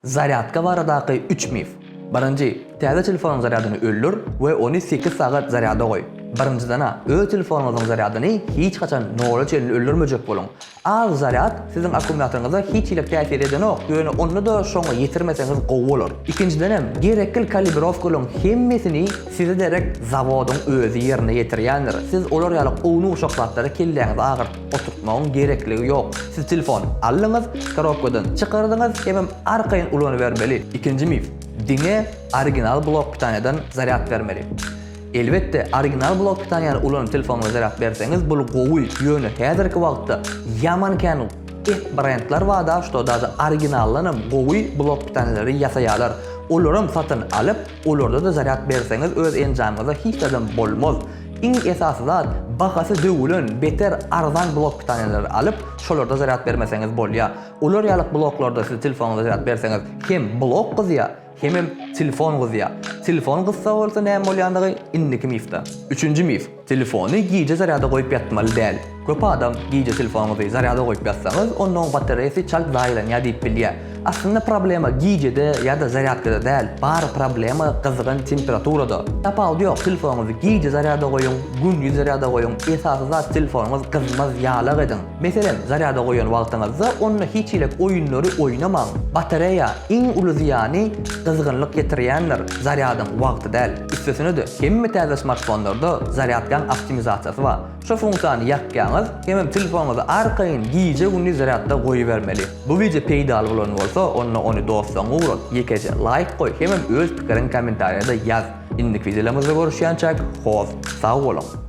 Zarýadka baradaky üç mif. Birinji, täze telefonyň zarýadyny öldür we ony sekiz sagat zarýada goý. Birinjiden-ä, öz telefonyňyzyň zarýadyny hiç haçan nola çenli öldürmejek boluň. Az zarýad siziň akkumulýatoryňyza hiç hili täsir edenok, ýöne onda-da şoňa ýetirmeseňiz gowy bolar. Ikinjiden hem, gerekil kalibrowkalaryň hemmesini size derek zawodyň özi ýerine ýetirýändir, siz olar ýaly ownuk-uşak zatlara kelläňizi agyrtmaň. oturtmagyň gerekligi ýok. Siz telefon aldyňyz, korobkadan çykardyňyz hemem arkaýyn ulanybermeli. Ikinji mif, diňe original blok pitaniýadan zarýad bermeli. Elbetde, original blok pitaniýany ulanyp telefonyňyza zarýad berseňiz bul gowy, ýöne häzirki wagtda ýaman kän et brendler barda, şto daže originaldanam gowy blok pitaniýaleri ýasaýarlar. Olaram satyn alyp, Olarda-da zarýad berseňiz öz enjamyňyza hiç zadam bolmaz. Iň esasy zat bahasy döwülen beter arzan blok pitanýalar alyp şolarda zarýad bermeseňiz bolýa. Olar ýaly bloklarda siz telefonyňyza zarýad berseňiz hem blok gyzýa hemem telefon gyzýa. Telefon gyzsa bolsa näme bolýandygy indiki mifda. Üçünji mif. Telefony gije zarýada goýup ýatmaly däl. Köp adam gije telefonuňyzy zarýada goýup ýatsaňyz, onda oň batareýasy çalt zaýalanýar diýip bilýär. Aslynda problema gijede ýa-da zarýadkada däl, bar problema gyzgyn temperaturada. Tapawudy ýok, telefonuňyzy gije zarýada goýuň, gündiz zarýada goýuň, esasy zat telefonyňyz gyzmaz ýalak ediň. Meselem, zarýada goýan wagtyňyzda onda hiç hili oýunlary oýnamaň. Batareýa iň uly zyýany gyzgynlyk getirýändir, zarýadyň wagty däl. Üstesine-de, hemme täze smartfonlarda zarýadkaň optimizasiýasy bar. Şu funksiýany ýakýaňyz, hemem telefonyňyzy arkaýyn gije-gündiz zarýadda goýbermeli. Bu wideo peýdaly bolan bolsa, onda ony dostlaryňa ugrat, ýekeje laýk goý, hemem öz pikiriň kommentariýada ýaz. Indiki wideolarymyzda görüşýänçäk, hoss, sag boluň!